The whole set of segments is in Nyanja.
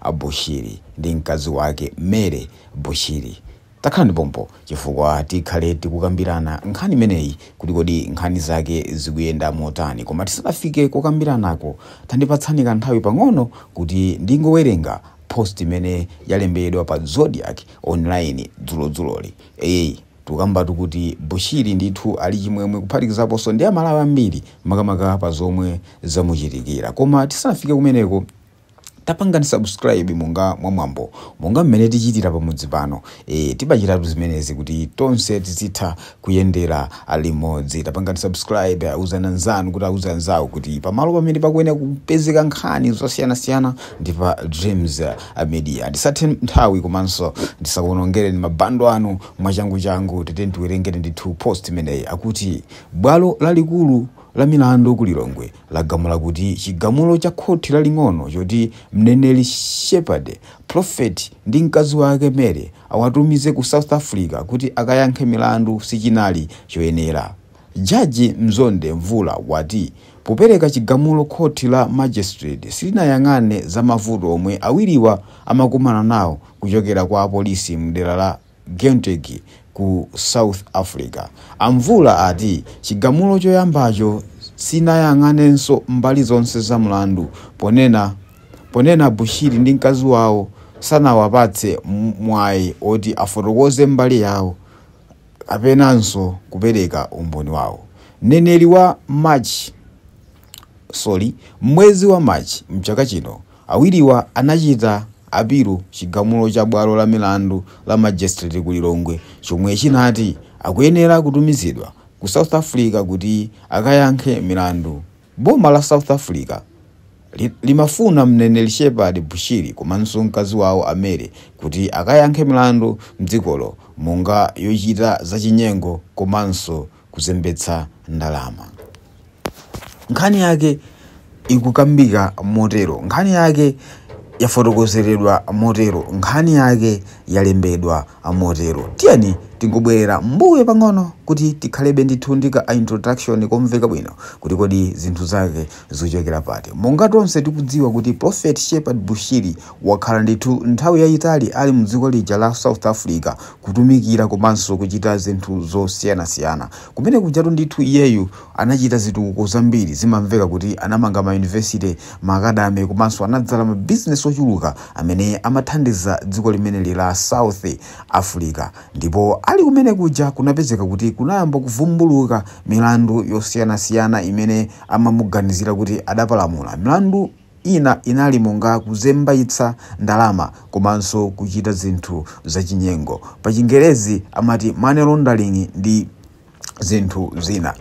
a Bushiri ndi mkazi wake Mary Bushiri. Takhalani pompo chifukwa tikhale tikukambirana nkhani imeneyi kuti kodi nkhani zake zikuyenda motani. Koma tisanafike kukambiranako, tandipatsani kanthawi pang'ono kuti ndingowerenga post imene yalembedwa pa Zodiak Online dzulodzuloli. Eyeyi, tikukambatu kuti Bushiri ndithu ali chimwemwe kuphatikizaponso ndi Amalawi ambiri makamaka pa zomwe zamuchitikira. Koma tisanafike kumeneko. Tapangani subscribe monga mwamwambo monga mmene tichitira pamudzi pano e, timachitatu zimenezi kuti tonse tizitha kuyendera limodzi. Tapangani subscribe, auzani anzanu kuti auze anzawo kuti pamalo pamene pakuyenera kupezeka nkhani zosiyanasiyana ndi pa Dreams Media. Ndisathe nthawi komanso ndisakuonongereni mabando anu mwachanguchangu, tiyeni tiwerengeni ndithu post imeneyi akuti bwalo lalikulu la milandu ku Lilongwe lagamula kuti chigamulo cha khoti laling'ono choti Mneneri Shepherd Prophet ndi mkazi wake Mary awatumize ku South Africa kuti akayankhe milandu sichinali choyenera. Jaji Mzonde Mvula wati popereka chigamulo khoti la Magistrate silinayang'ane za mavuto omwe awiriwa amakumana nawo kuchokera kwa apolisi mdera la Gauteng ku South Africa. A Mvula ati chigamulo choyambacho sinayang'anenso mbali zonse za mlandu ponena ponena Bushiri ndi mkazi wawo sanawapatse mwayi oti afotokoze mbali yawo kapenanso kupereka umboni wawo. Mneneri wa March sorry, m'mwezi wa March mchaka chino, Awiriwa anachita apilu chigamulo cha bwalo la milandu la Magistrate ku Lilongwe chomwe chinati akuyenera kutumizidwa ku South Africa kuti akayankhe milandu. Boma la South Africa limafuna Mneneri Shepherd Bushiri komanso mkazi wawo a Mary kuti akayankhe milandu mdzikolo monga yochita zachinyengo komanso kuzembetsa ndalama. Nkhani yake ikukambika motero, nkhani yake yafotokozeredwa motero, nkhani yake yalembedwa motero. Tiyeni tingobwerera mmbuyo pang'ono kuti tikhalebe ndithu ndi ka introduction komveka bwino kuti kodi zinthu zake zikuchokera pati. Monga tonse tikudziwa kuti Prophet Shepherd Bushiri wakhala ndithu nthawi yayitali ali mdziko lija la South Africa kutumikira komanso kuchita zinthu zosiyanasiyana. Kumene kujatu ndithu iyeyu anachita zitukuko zambiri. Zimamveka kuti anamanga mayunivesite, maakadame komanso anadzala mabizinesi ochuluka amene amathandiza dziko limeneli la South Africa. Ndipo ali kumene kuja kunapezeka kuti kunayamba kuvumbuluka milandu yosiyanasiyana imene amamuganizira kuti adapalamula. Milandu. Ina inali monga kuzembaitsa ndalama komanso kuchita zinthu zachinyengo. Pa Chingerezi amati money laundering ndi zinthu zina.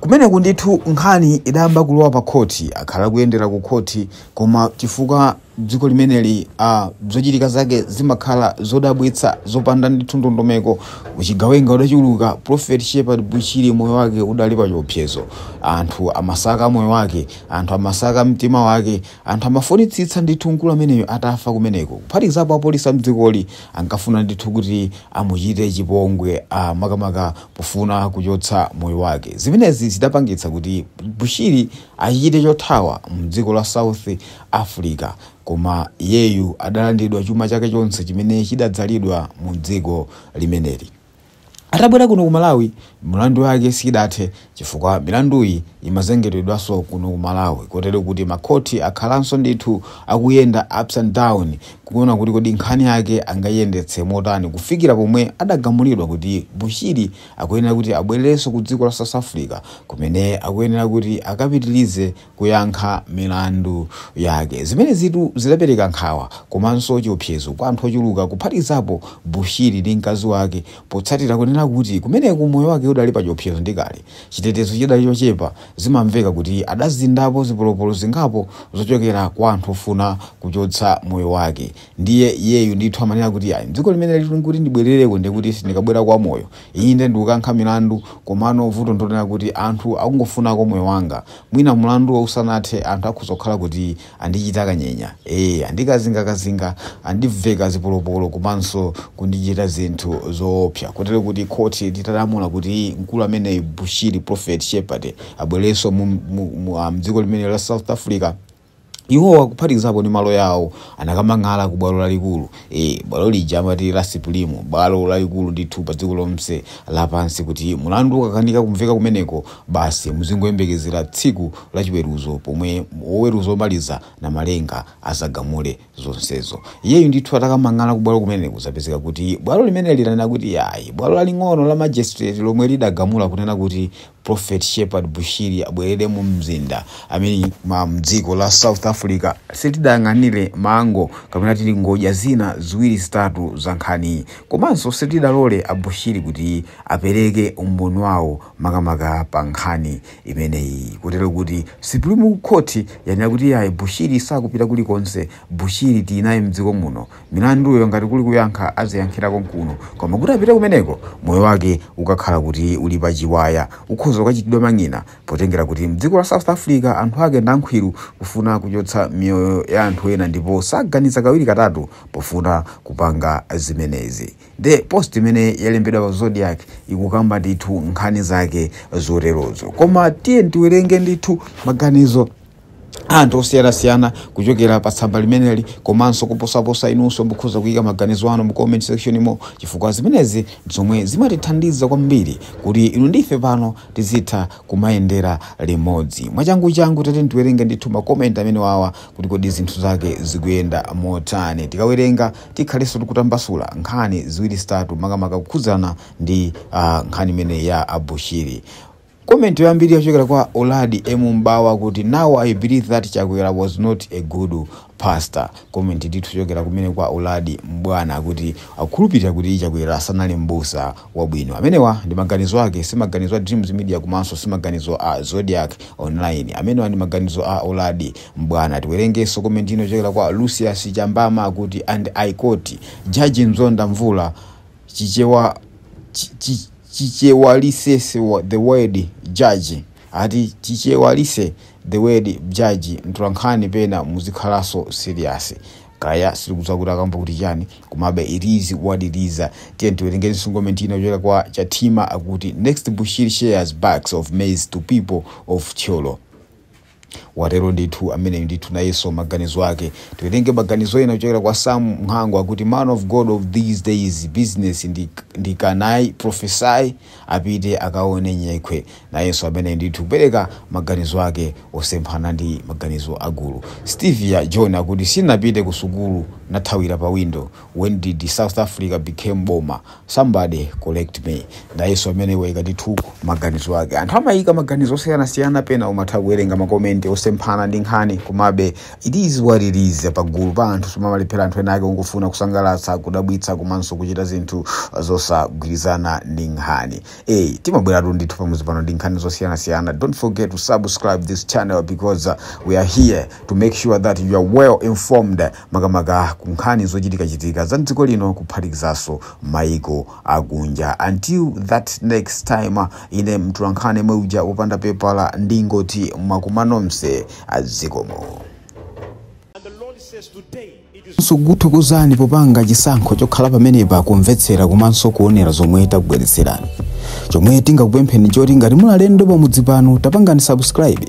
Kumeneku ndithu nkhani idayamba kulowa pa khoti. Akhala akuyendera ku khoti koma chifukwa dziko limeneli uh, zochitika zake zimakhala zodabwitsa zopanda ndithu ndondomeko. Uchigawenga udachuluka, Prophet Shepherd Bushiri moyo wake udali pa chiopsezo. Anthu amasaka moyo wake Anthu amasaka mtima wake. Anthu amafunitsitsa ndithu mkulu ameneyu atafa kumeneko. Kuphatikizapo apolisi a m'dzikoli ankafuna ndithu kuti amuchite chipongwe, a makamaka pofuna kuchotsa moyo wake. Zimenezi zidapangitsa kuti Bushiri achite chothawa m'dziko la South Africa. Koma iyeyu adalandidwa chuma chake chonse chimene chidadzalidwa mu dziko limeneli. Atabwera kuno ku Malawi, milandu yake sidathe chifukwa milanduyi imazengedwanso kuno ku Malawi kotero kuti makhoti akhalanso ndithu akuyenda ups and down kuona kuti kodi nkhani yake angaiyendetse motani kufikira pomwe adagamulidwa kuti Bushiri akuyenera kuti abwerereso ku dziko la South Africa kumene akuyenera kuti akapitilize kuyankha milandu yake. Zimenezitu zidapereka nkhawa komanso chiopsezo kwa anthu ochuluka kuphatikizapo Bushiri ndi mkazi wake potsatira kunena kuti kumeneku moyo wake udali pachiopsezo ndi kale chitetezo chidali chochepa zimamveka kuti adazinzapo zipolopolo zingapo zochokera kwa anthu ofuna kuchotsa moyo wake ndiye iyeyu ndithu amanena kuti ayi dziko limeneli likuti ndibwerereko ndikuti sindikabwerako wamoyo Inde ndikukayankha milandu komano vuto ndilonena kuti anthu akungofunako moyo wanga mwina mulanduwo usanathe anthu akhoza kukhala kuti andichita kanyenya ee andikazingakazinga andiveka zipolopolo komanso kundichita zinthu zoopsa kotero kuti khoti litalamula kuti mkulu ameneyu Bushiri Prophet Shepherd abwerereso mu, mu, mu, ah, mdziko limeneli la South Africa Iwowa kuphatikizapo ndi maloya awo anakamang'ala ku bwalo lalikulu e, bwalo lija amati la Sipulimu, bwalo lalikulu ndithu pa dziko lonse lapansi kuti mulandu ukakanika kumveka kumeneko basi muzingoyembekezera tsiku la chiweruzo pomwe woweruza omaliza Namalenga adzagamule zonsezo. Iyeyu ndithu atakamang'ala ku bwalo kumeneku zapezeka kuti bwalo limeneli lanena kuti ayi bwalo laling'ono la Magistrate lomwe lidagamula kunena kuti Prophet Shepherd Bushiri abwerere mu mzinda I mean ma mdziko la South Africa silidayang'anire mango kapena titi ngodya zina ziwiri zitatu za nkhaniyi komanso silidalole a Bushiri kuti apereke umboni wawo makamaka pa nkhani imeneyi kotero kuti Supreme Court yanena kuti yayi Bushiri sakupita kulikonse Bushiri tili naye mdziko muno Milanduyo ngati kuli kuyankha aziyankhira konkuno koma kuti apite kumeneko moyo wake ukakhala kuti uli pa chiwaya ukhoza kukachitidwa mang'ina potengera kuti mdziko la South Africa anthu ake ndankhwiru kufuna kuchotsa miyoyo ya anthu ena ndipo saganiza kawiri katatu pofuna kupanga zimenezi. Nde post imene yalembedwa pa Zodiak ikukamba ndithu nkhani zake zoterozo koma tiyeni tiwerenge ndithu maganizo. anthu osiyanasiyana kuchokera pa tsamba limeneli komanso kuposaposa inunso mukhoza kuyika maganizo anu mu comment section imo chifukwa zimenezi zomwe zimatithandiza kwambiri kuti inu ndi ife pano tizitha kumayendera limodzi mwachanguchangu tiyeni tiwerenge ndithu ma comment amene wawa kuti kodi zinthu zake zikuyenda motani tikawerenga tikhalenso tikutambasula nkhani ziwiri zitatu makamaka kukhudzana ndi uh, nkhani imene ya a Bushiri Comment yoyambirira yochokera kwa Uladi M'bwana akuti now I believe that Chakwera was not a good pastor. Comment ndithu yochokera kumene kwa Uladi M'bwana akuti akukhulupirira kuti Chakwera sanali m'busa wabwino. Amenewa ndi maganizo ake, si maganizo a Dreams Media komanso si maganizo a Zodiak Online. Amenewa ndi maganizo a Uladi M'bwana. Tiwerengenso comment ina yochokera kwa Lucius Chambama akuti and I quote Judge Mzonda Mvula Chi Chi Chichewalise the word judge ati Chichewalise the word judge mtolankhani pena muzikhalaso serious kaya sitikudziwa kuti akamba kuti chani komabe it is what it is tiyeni tiwerengenso comment ina kuchokera kwa Chathima akuti next Bushiri shares bags of maize to people of Thyolo Watero ndithu ameneyu ndithu nayeso maganizo ake. Tiwerenge maganizo ena kuchokera kwa Sam Mhango akuti man of God of these days business ndi kunai prophesy apite akaone nyekhwe. Nayeso ameneyu ndithu kupereka maganizo ake osemphana ndi maganizo a gulu. Stevia John akuti sinapite kusukulu nathawira pa window. when did south africa became boma somebody correct me nayeso ameneyu waika ndithu maganizo ake anthu amaika maganizo osiyanasiyana pena umatha kuwerenga makomenti osemphana ndi nkhani komabe it is what it is pagulu pa anthu samalephera anthu ena ake ongofuna kusangalatsa kudabwitsa komanso kuchita zinthu zosagwirizana ndi nkhani hey, timabweratu ndithu pamudzi pano ndi nkhani zosiyanasiyana don't forget to subscribe this channel because uh, we are here to make sure that you are well informed makamaka ku nkhani zochitikachitika za mdziko lino kuphatikizaso maiko akunja until that next time ine mtolankhani yemwe uja wopanda pepala ndingoti mwakumva nonse zikomo And the Lord says, Today it is tikuthokozeni popanga chisankho chokhala pamenepa kumvetsera komanso kuonera zomwe takubweretserani chomwe tingakupempheni nchoti ngati muli alendo pamudzi pano tapangani subscribe